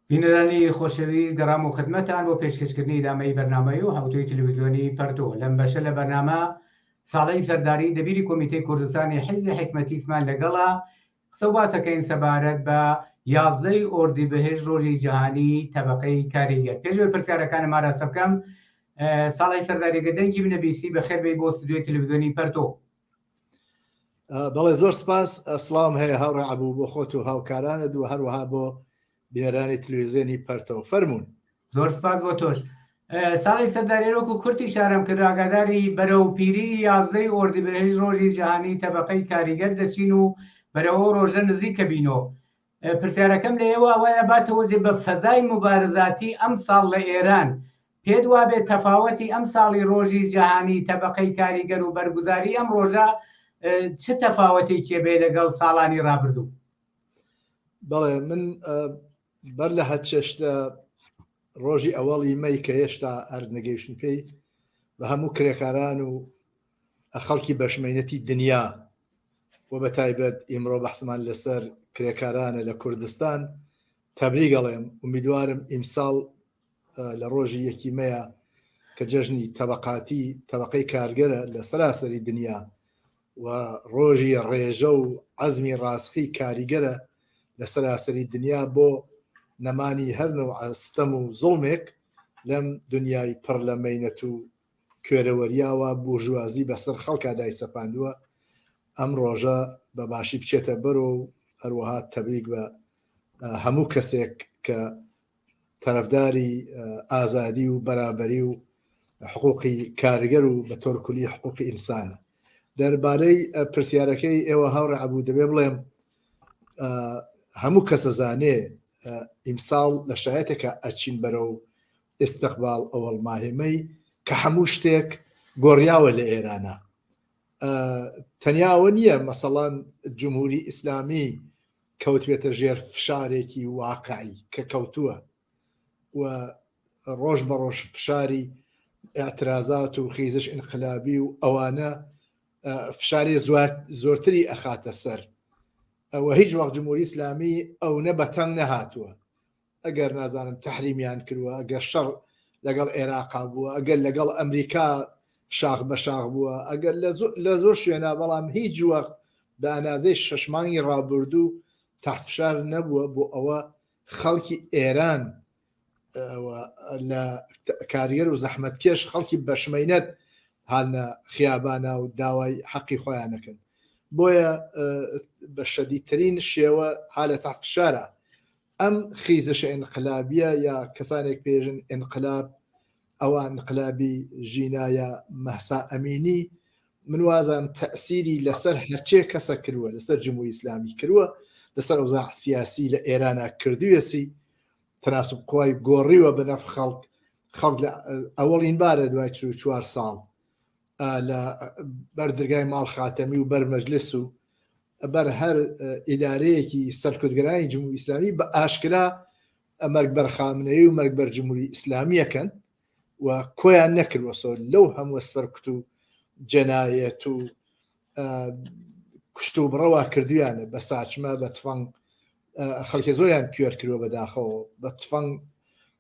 بینەرانی خۆشەویست گەڕام و خدمەتان بۆ پێشکەشکردنی دامەی بەرنامەی و هەوتوی تلویزیۆنی پەرتۆ لەم بەشە لە بەرنامە ساڵی سەرداری دەبیری کۆمیتەی کوردستانی حیزی حکمەتیسمان لەگەڵا قسە باسەکەین سەبارەت بە یازدەی ئۆردی بەهێش ڕۆژی جیهانی تەبقەی کاریگەر پێشوەی پرسیارەکان ماراسە بکەم ساڵی سەرداریگە دەنگی منەبیسی بە خێربەی بۆ ستودیۆی تلویزیۆنی پەرتۆ بەڵێ زۆر سپاس ئەسلام هەیە هاوڕێ عبوو بۆ خۆت و هاوکارانە دوو هەروەها بۆ بێرانی تلوێزیێنی پەرتەوە فەرمونون زۆر سپاس بۆ تۆش ساڵی سەردارێرۆک و کورتی شارم کرد ئاگاداری بەرە و پیری یازدەی ئۆردیبهێژ ڕۆژی جیهانی تەبقەی کاریگەر دەچین و بەرەوە ڕۆژە نزیک کە بینۆ پرسیارەکەم لە ئێوە وایە باتەوەزێ بە فەزای مبارزاتی ئەم ساڵ لە ئێران پێت وابێت تەفاوەتی ئەمساڵی ڕۆژی جەهانی تەبەقەی کاریگەر و بەرگوزاری ئەم ڕۆژە چ تەفاوەتێکی هەبێت لەگەڵ ساڵانی ڕابردوو؟ بەڵێ من بەر لە هەر چێشتە ڕۆژی ئەوەڵی مەی کە هێشتا ئەرد نەگەیشتن پێی بە هەموو کرێکاران و خەڵکی بەشمەینەتی دنیا و بە تایبەت ئیمڕۆ بەحسمان لەسەر کرێکارانە لە کوردستان تەبریگەڵێم امیدوارم ئیمساڵ لە ڕۆژی یەکی مەیە کە جەژنی تەبقاتی تەبقەی کارگەرە لە سەراسەری دنیا و ڕۆژی ڕێژە و عزمی ڕاستخی کاریگەرە لە سەراسەری دنیا بۆ نەمانی هەرنە و ئەستەم و زڵمێک لەم دنیای پڕ لە مینەت و کوێرەوەریاوە بورژوازی بەسەر خەڵکا دای سەپاندووە ئەم ڕۆژە بە باشی بچێتە بەرۆ و هەروەها تەبریک بە هەموو کەسێک کە تەرەفداری ئازادی و بەرابەری و حقوقی کارگەر و بە تۆرکلی حقوقی ئینسانە دەربارەی پرسیارەکەی ئێوە هاوڕێ عبوو دەبێ بڵێم هەموو کەسە زانێ ئیمساڵ لە شایەتێکە ئەچین بەرە و ئستقبال ئەوەڵ ماهێمەی کە هەموو شتێک گۆڕیاوە لە ئێرانە تەنیاوە نییە مەسەڵەن جمهوری ئیسلامی کەوتێتە ژێر فشارێکی واقعی کە کەوتووە و ڕۆژ بە ڕۆژ فشاری ئەترازات و خیزش ئینقلابی و ئەوانە فشاری زۆرتری ئەخاتە سەر ئەوە هیچ وەخت جمهوری ئسلامی ئەو نە بەتەنگ نەهاتووە ئەگەر نازانم تەحریمیان کروە ئەگەر شەڕ لەگەڵ عێراقا بووە ئەگەر لەگەڵ ئەمریکا شاخ بە شاخ بووە ئەگەر لە زۆر شوێنە بەڵام هیچ وەخت بە ئەنازەی شەشمانگی ڕابردوو تاحتفشار نەبووە بۆ ئەوە خەڵکی ئێران لە کارگەر و زەحمەتکێش خەڵکی بەشمەینەت هاالە خیابانە و داوای حەقی خۆیانەکەن بۆیە بە شەدیترین شێوە ها لە تاحتشارە ئەم خیزشە ئینقلابیە یا کەسانێک پێژن ئینقلاب ئەوە ئینقلابی ژینا یا مەهسا ئەمینی من وازان تەسیری لەسەر هەرچێ کەسە کروە لەسەر جمهوری ئیسلامی کروە لەسەر ئەوزا سیاسی لە ئێرانە کردوێسی تەناسب قوای گۆڕیوە بە نەف خەڵک خەڵک لە ئەوەڵین بارە دوای چوار ساڵ لە بەردرگای ماڵ خاتەمی و بەرمەجلس و بەر هەر ئیدارەیەکی سەرکردگەرانی جمهوری ئیسلامی بە ئاشکرا ئەمەرگ بەرخامنەیە و مەرگ بەر جمهوری ئیسلامیەکەن و کۆیان نەکردوەسەوە لەو هەمووە سەرکت و جەنایەت و کوشت و بڕەوە کردویانە بە ساچمە بە تفەنگ خەڵکی زۆریان کوێر کردوە بەداخەوە بە تفەنگ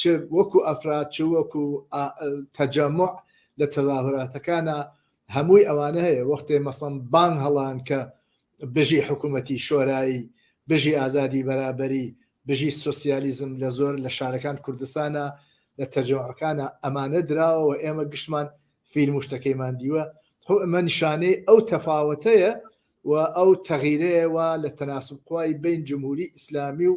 چ وەکو ئەفراد چ وەکو تەجەموع لە تەزاهوراتەکانە هەمووی ئەوانە هەیە وەختێ مەسەم بانگ هەڵان کە بژی حکوومەتی شۆرایی بژی ئازادی بەرابەری بژی سوسیالیزم لە زۆر لە شارەکان کوردستانە لە تەجەوەکانە ئەمانە دراوەوە ئێمە گشتمان فیلم شتەکەیمان دیوە هو ئەمە نیشانەی ئەو تەفاوتەیە و ئەو تەغیرەیەوە لە تەناسب قوای بین جمهوری ئیسلامی و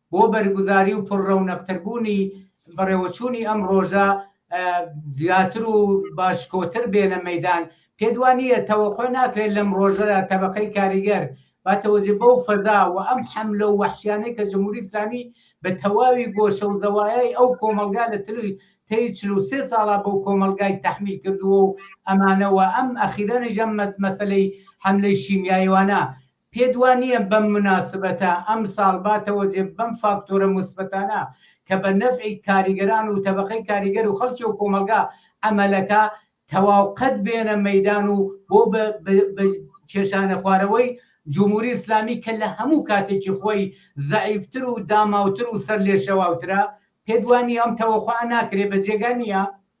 بۆ بەرگوزاری و پڕ رەونەقتربوونی بەڕێوەچوونی ئەم رۆژە زیاتر و باشکۆتر بێنە مەیدان، پێتوانییە تەوەقوع ناکرێت لەم رۆژەدا تەبەقەی کاریگەر باتەوەجێ بەو فەزا و ئەم حەملە و وەحشیانەی کە جمهوری ئیسلامی بە تەواوی گۆشە و زەوایای ئەو کۆمەڵگا لە تەی چل و سێ ساڵا بەو کۆمەڵگای تەحمیل کردووە و ئەمانە و ئەم ئەخیرەنیش ئەم مەسەلەی حەملەی شیمیاییوانە پێت وا نییە بەم موناسبەتە ئەمساڵ با تەوەجێ بەم فاکتۆرە موسبەتانە کە بە نەفعی کاریگەران و تەبەقەی کاریگەر و خەڵکی و کۆمەڵگا ئەمەلەکە تەواو قەت بێنە مەیدان و بۆ بە کێشانە خوارەوەی جموری ئیسلامی کە لە هەموو کاتێکی خۆی زەعیفتر و داماوتر و سەرلێشێواوترە؟ پێت وا نییە ئەم تەوەقوعە ناکرێ بە جێگا نییە؟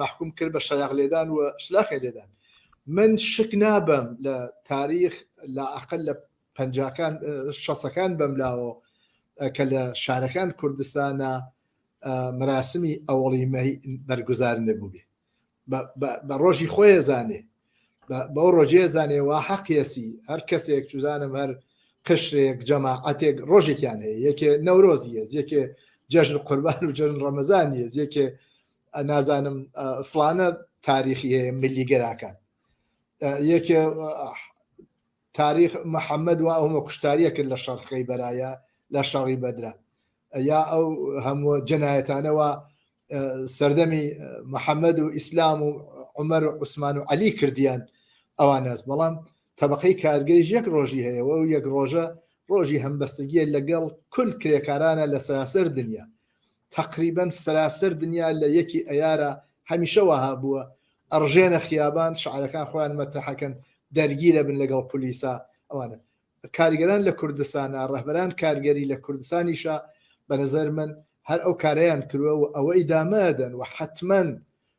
مەحکوم کرد بە شەیاغ لێدان و شلاقێ لێدان من شک نابم لە تاریخ لە ئەقل لە پەنجاکان شەسەکان بەم لاوە کە لە شارەکان کوردستانە مراسمی ئەوڵی مەی بەرگزار نەبوو بێ بە ڕۆژی خۆی زانێ بەو ڕۆژێ زانێ وا حەقیەسی هەر کەسێک چزانم هەر قشرێک جەماعەتێک ڕۆژێکیان هەیە یەکێ نەورۆزیە یەکێ جەژن قوربان و جەژن ڕەمەزانیە یەکێ نازانم فلانە تاریخی هەیە ملی گەراکان یەکێ تاریخ محەممەد و ئەومە کوشتاریە کرد لە شەرخەی بەرایە لە شەڕی بەدرا یا ئەو هەموو جەنایەتانەوە سەردەمی محەممەد و ئیسلام و عمەر و عوسمان و علی کردیان ئەوان ناز بەڵام طبقەی کارگەیش یەک ڕۆژی هەیە و یەک ڕۆژە ڕۆژی هەمبەستگیە لەگەڵ کل کرێکارانە لە سەراسەر دنیا تەقریبەن سەراسەر دنیا لە یەکی ئەیارە هەمیشە وەها بووە ئەڕژێنە خیابان شعارەکان خۆیان مەترحەکەن دەرگیرە بن لەگەڵ پولیسا ئەوانە کارگەران لە کوردستانە ڕەهبەران کارگەری لە کوردستانیشە بەنەزەر من هەر ئەو کارەیان کرووە و ئەوە ئیدامەدەن و حتمما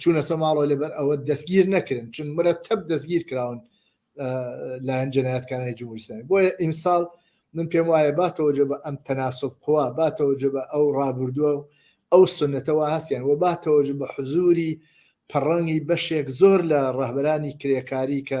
چونە سە ماڵەوە لەبەر ئەوە دەستگیر نەکرن چون مرە تەب دەستگیر کراون لایەن جنایەتکانانی جمهوریسانی بۆیە ئیمساڵ من پێم وایە باتەوە جە بە ئەم تەناسب قووا باتەوە جە بە ئەو ڕابردووە و ئەو سنەتەوە هەستیان و باتەوە جە بە حزوری پەڕەنگی بەشێک زۆر لە ڕەهبەرانی کرێکاری کە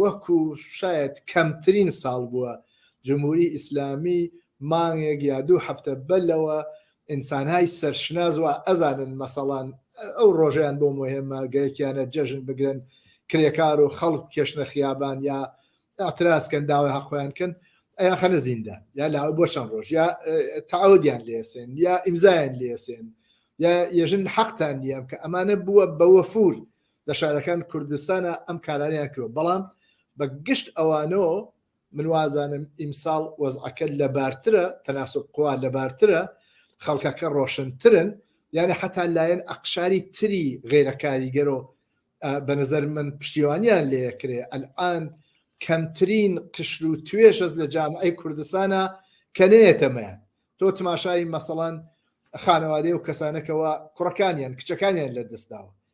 وەکو شایەد کەمترین ساڵ بووە جمهوری ئیسلامی مانگێک یا دوو هەفتە بە لەوە ئینسانهای سەرشناس وا ئەزانن مەسەڵان ئەو ڕۆژەیان بۆ مهمە گەرەکیانە جەژن بگرن کرێکار و خەڵک کێشنە خیابان یا ئاعتراسکەن داوای هەقۆیان کەن ئەیا خەنە زیندە یا لاوە بۆ چەند ڕۆژ یا تعودیان لێسێن یا ئیمزایان لێسێن یا یەژن حەقتان نییە کە ئەمانە بووە بە وەفور لە شارەکان کوردستانا ئەم کارانەیان کردوە بەڵام بە گشت ئەوانۆ من وازانم ئیمساڵ وەزعەکە لە بارترە تەناسب قوا لە بارترە خەڵکەکە ڕۆشنترن یانە حتا لایەن ئەقشاری تری غیرە کاریگەرۆ بە نظر من پشتیوانیان لەکرێ ئەلان کەمترین قشر و توێژەز لە جامعی کوردستانە کە نێتەمەیان تۆ تماشای مەسەڵەن خانەوادەی و کەسانەکەەوە کوڕەکانیان کچەکانیان لە دەستداوە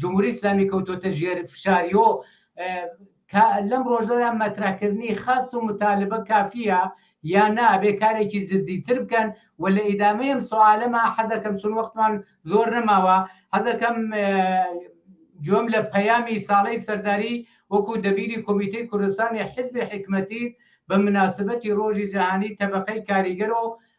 جمهوری ئیسلامی کەوتۆتە ژێر فشاری و لەم ڕۆژەدا مەترەکردنی خاست و متالبە کافیە یا نابێ کارێکی زدیتر بکەن و لە ئیدامەیەم سوالەما حەزەکەم چون وەختمان زۆر نەماوە حەزەکەم جۆم لە پەیامی ساڵی سەرداری وەکو دەبیری کۆمیتەی کوردستانی حزبی حکمەتی بە مناسبەتی ڕۆژی جیهانی تەبقەی کاریگەر و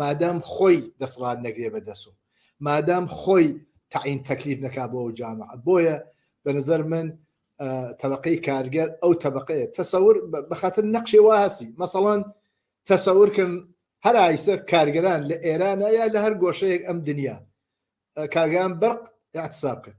مادام خۆی دەسڵات نەگرێ بە دەس و مادام خۆی تەعین تەکلیف نەکا بۆ ئەو جامعە بۆیە بە نظر من تەبقەی کارگەر ئەو تەبقەیە تەسەور بە خاطر نەقشێ وا هەسی مەسەڵان تەسەورکەم هەر ئایسە کارگەران لە ئێرانە یا لە هەر گۆشەیەک ئەم دنیا کارگەران بەرق اعتصاب کرد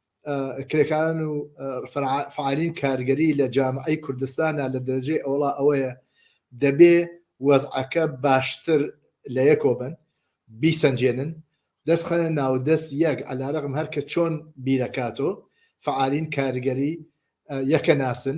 کرێکارن و فعالین کارگەری لە جامعی کوردستانە لە دەرجەی ئەوڵا ئەوەیە دەبێ وەزعەکە باشتر لە یەکۆ بن بیسەنجێنن دەست خەنە ناودەست یەک ئەلارەقم هەرکە چۆن بیرەکاتۆ فعالین کارگەری یەکە ناسن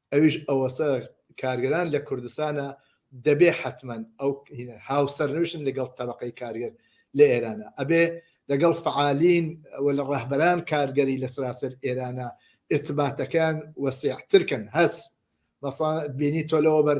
ئەویش ئەوەسە کارگەران لە کوردستانە دەبێ حەتمەن ئەو هاوسەرنوشن لەگەڵ تەبقەی کارگەر لە ئێرانە ئەبێ لەگەڵ فعالین و لە ڕەهبەران کارگەری لە سراسەر ئێرانە ارتباتەکان وەسیعترکەن هەس بینی تۆ لەوە بەر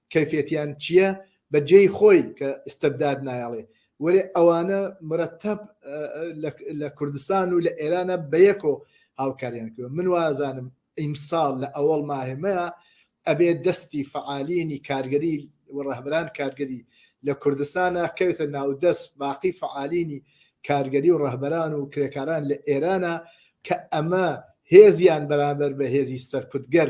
کەیفێتیان چیە بە جێی خۆی کە ئیستبداد نایەڵێ وەلێ ئەوانە مرەتەب لە کوردستان و لە ئێرانە بە یەکۆ هاوکاریان کردوە من وازانم ئیمساڵ لە ئەوەڵ ماهێمەیە ئەبێ دەستی فعالینی کارگەری و ڕەهبران کارگەری لە کوردستانە کەوێتە ناودەست باقی فعالینی کارگەری و ڕەهبەران و کرێکاران لە ئێرانە کە ئەمە هێزیان بەرامبەر بە هێزی سەرکوتگەر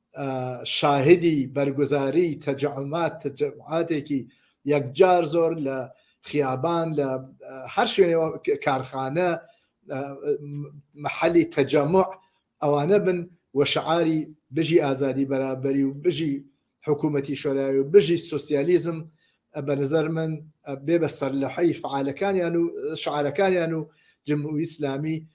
شاهدی بەرگوزاری تەجعمات تەجمعاتێکی یەکجار زۆر لە خیابان لە هەر شوێنێ کارخانە محەلی تەجەمع ئەوانە بن و شعاری بژی ئازادی بەرابەری و بژی حکوومەتی شۆراوی و بژی سوسیالیزم بە نظر من بێ بە سەر لە حی فعالەکانیان و شعارەکانیان و جمهوری ئیسلامی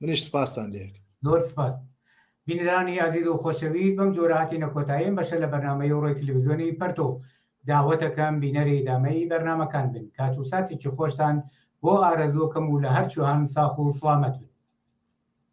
منیش سپاستان لێک. زۆر سپاس بینرانی ئازیز و خۆشەویست بەم جۆرە هاتینە کۆتایی ئەم بەشە لە بەرنامەی ڕۆی تلویزیۆنی پەرتۆ داوەتەکەم بینەری ئیدامەی بەرنامەکان بن کات و ساتێکی خۆشتان بۆ ئارەزووکەم و لە هەرچوهان ساخ و سڵامەت بن.